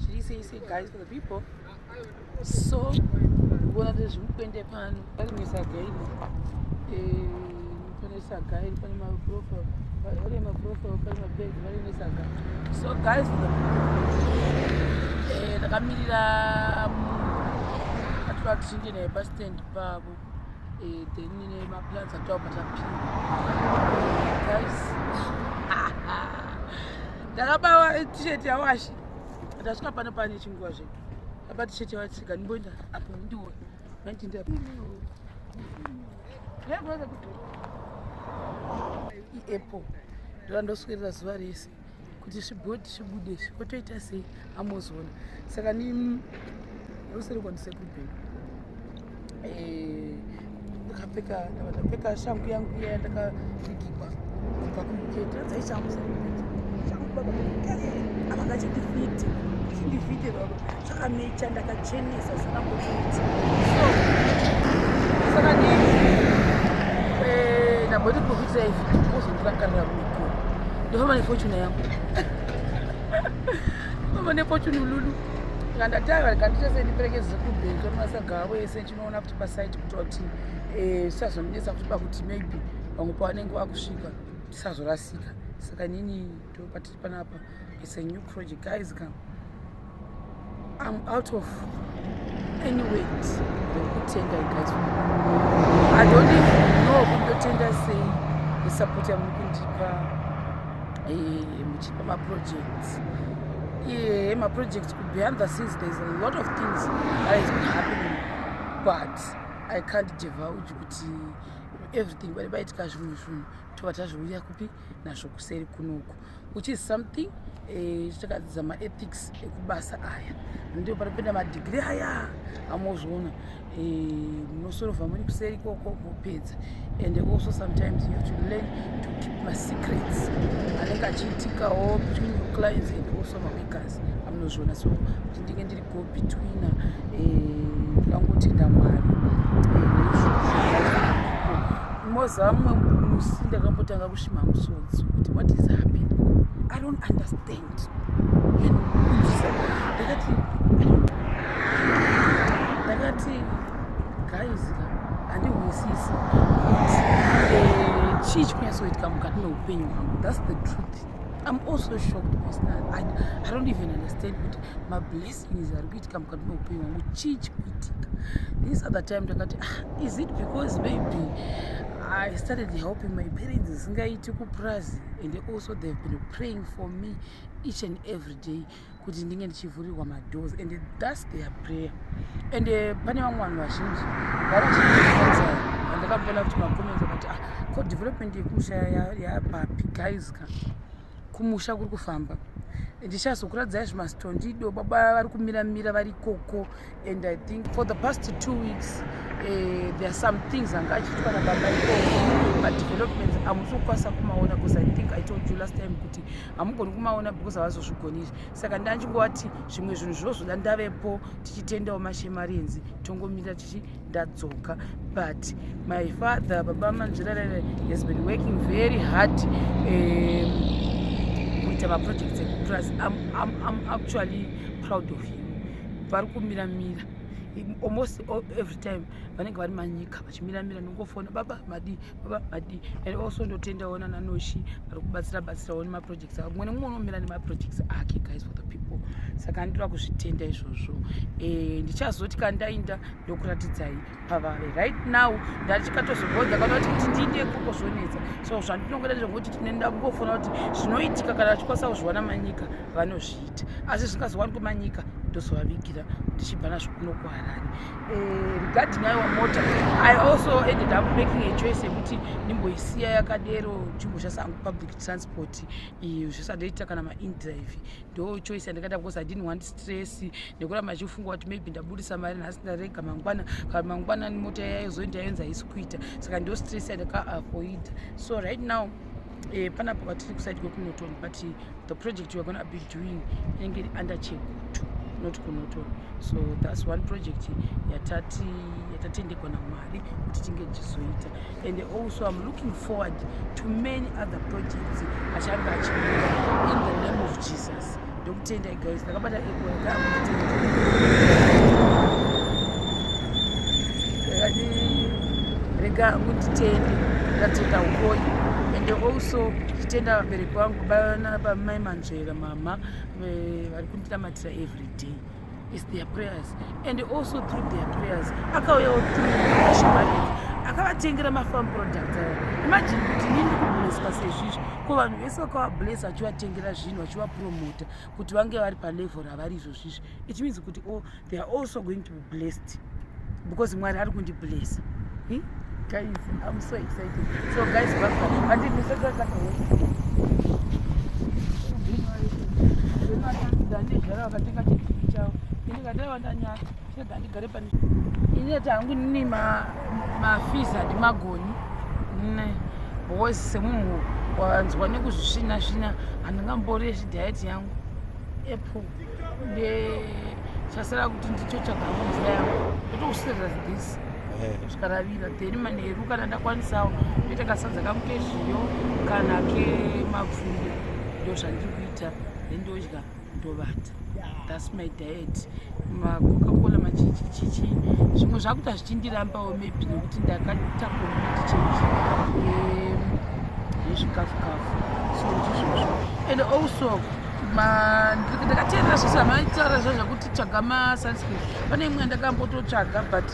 Chiri sei sei guys for the people. So kuona kuti zvimukwende pano ari misaga iri eh, pane saga iri pane maprofa vari maprofa pane mabhegi vari nesaga so guys eh, takamirira mm, atora tichinge naye pastand pavo eh, then ine maplans ataubva tapinda guys ndakabawa t-shirt yawashi ndasvika pano pane chinguva zvedu apa t-shirt yawatsika ndimboenda apo ndiwo mandinda iapple ndovandoswirira zuva rese kuti zvibhodhi zvibude izvi kotoita sei amozoona saka ni rusiri kwandisekuru bheni eh, ndakapfeka ndapfeka shangu yangu iya yandakapfigigwa kubva kumuketa dzaishangu shangu baba avangachindifiti chindifite baba Chakamecha ndakachenesa zvisina kukuti. Saka ni eh ndamboti kukuitira izvi uzondira karira miko. Ndofamba nefortune yangu. Mama nefortune lulu. Ngandatanga kandita sendipereke zikubhenzi masaga avo ese chinoona kuti pasite kutoti eh sazonetsa kuti pakuti maybe vamwe pavanenge vakusvika tisazorasika saka nini patiri panapa it's a new project guys come i'm out of any weight yekutenga guys i don't even know kundotenga sei nesupport yamuri kundipa eh, muchipa maprojects iye maprojects behind the scenes there is a lot of things that has been happening but i can't divulge kuti everything pane paitika zvimwe zvinhu tobva tazviuya kupi nazvo kuseri kunoku which is something eh, chakadzidza maethics ekubasa aya ndio pari kuenda madigiri aya amozviona eh, munosorova muri kuseri ikoko mopedza and also sometimes you have to learn to keep masecrets anenge achiitikawo between your clients and also mamakers amunozviona so kuti ndinge ndiri go between ndangotenda mwari moziva mumwe musi ndakambotanga kushima musodzi kuti what is happening i don't understand ndakati ndakati guys handihwisisi eh, chii chikunyasoitika mukati meupenyu hwangu thats the truth i'm also shocked because i, I don't even understand kuti mablessings ari kuitika mukati meupenyu wangu chii chikuitika this other time ndakati ah, is it because maybe I started helping my parents zisingaiti kupurazi and also they have been praying for me each and every day kuti ndinge ndichivhurirwa madoors and thus their prayer and eh, pane vamwe vanhu vazhinji vaandakambona kuti macomments vakati ah, ko development yekumusha yapapi guys ka kumusha kuri kufamba ndichazokuradzai zvimastondido baba vari kumira mira vari koko and i think for the past two weeks uh, there are some things anga achiitwa nababa ikoko madevelopments hamusi kukwanisa kumaona because i think i told you last time kuti hamugoni kumaona because havazozvigoni izvi saka ndandingovati zvimwe zvinhu zvozoda ndavepo tichitendawo mashemarenzi tongomirira tichi ndadzoka but my father baba manzvirarere has been working very hard um, kuita um, maprojects ekupras I'm, I'm, I'm actually proud of him vari kumira mira almost every time vanenge vari manyika vachimiramira nongofona baba madii vabadi and also ndotendawo nananoshi vari kubatsira batsirawo nemaprojects avo mumwe nemumwe unomira nemaprojects ake guys for the people saka anditora kuzvitenda izvozvo eh, ndichazoti kandainda ndokuratidzai pavave right now ndatichikatozogonza kana kuti kuti ndiinde ikoko zvonetsa so zvandinongoda ndezvekuti tinoenda kungofona kuti zvinoitika kana vachikwanisa kuzviwana manyika vanozviita asi zvingazowanikwa manyika ndozovavigira ndichibva nazvo kuno kuharare Eh, regarding aiwa mota i also ended up making a choice yekuti ndimboisiya yakadero ndimboshasa hangu public transport iyo zvisandoita kana maindrive ndo choice yandakaita because i didn't want stress nekuramba chifunga kuti maybe ndabudisa mari nhasi ndarega mangwana kana mangwana mota yayozoenda yonzi haisi kuita saka ndo stress yandakaavoida so right now eh, panapo patiri kusaidi kwekunoton but the project we're gonna be doing inenge iri under chekutu not kunoto so thats one project yatati yatatendekwa namwari kuti tinge tichizoita and also im looking forward to many other projects achange achiia in the name of jesus ndokutendai guys Ndakabata ego rega unditende ndatenda uroyi and also ndichitenda vabereki vangu bana bamai manzvera mama eh, vari kundinamatira every day is their prayers and also through their prayers akauyawo through akavatengera mafarm products aya imagine kuti ini ndikubleswa sezvizvi ko vanhu vese vakavablesa vachivatengera zvinhu vachivapromota kuti vange vari palevel ravari izvozvizvi it means kuti o oh, they are also going to be blessed because mwari ari kundiblessa hmm? guys i'm so excited so guys baandizvara vakatenga chii chavo ndikadaiwa ndanyara Rega ndigare pane. Ini ati hangu nini ma mafees handimagoni. Nne because semunhu wanzwa nekuzvisvina svina handingambori yechi diet yangu apple nde chasara kuti ndicho chagama mvura yangu ndotokusirira this eh. kusvika ravira then manheru kana ndakwanisawo ndoita kasadza kangu kezviyo kana kemapfunde ndo zvandiri kuita then ndodya ndovata thats my diet macoca cola machichichichi zvimwe zvakuita zvichindirambawo maybe nekuti ndakaita community change yezvikafu kafu so ndizvozvo and also ndakateerera zvese amaitaura zva zvekuti tsvaga masunscreen pane imwe yandakambototsvaga but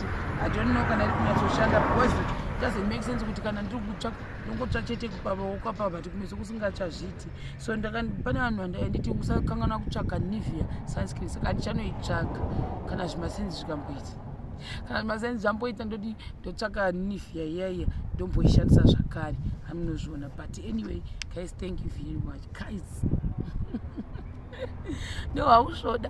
i don't know kana iri kunyatsoshanda because doesn't make sense kuti kana ndiri kutsva ndongotsva chete kupavaokapava but kumeso kusingachazviiti so pane vanhu vandaenditi usakanganwa kutsvaga nivia sunscreen saka andichanoitsvaga kana zvimasenzi zvikamboita kana zvimasenzi zvamboita ndoti ndotsvaga nivia iyaiya ndomboishandisa zvakare hamunozviona but anyway guys thank you very much guys no hausvoda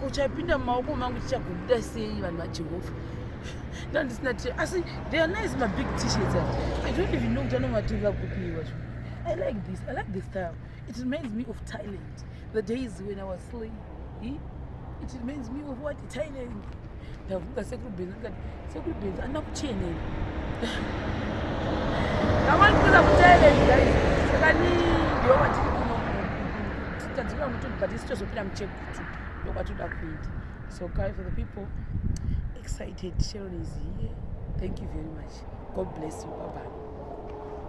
kuchapinda mumaoko mangu tichagobuda sei vanhu vajehovha ndandisina t asi they are nice mabig tshirts i don't even know kuti anomatenga kupiwa zvo i like this i like this style it reminds me of thailand the days when i was slay it reminds me of what thailand ndavhunga sekuru benzi ndikati sekuru benzi andina kuchenera ndamanikiza kutoeleni guys saka ni ndiyo vatiri kuno tadzikira mutunhu but isi tozopira muchekutu ndokwatoda kuita so guy for the people excited sharon is here thank you very much god bless you baba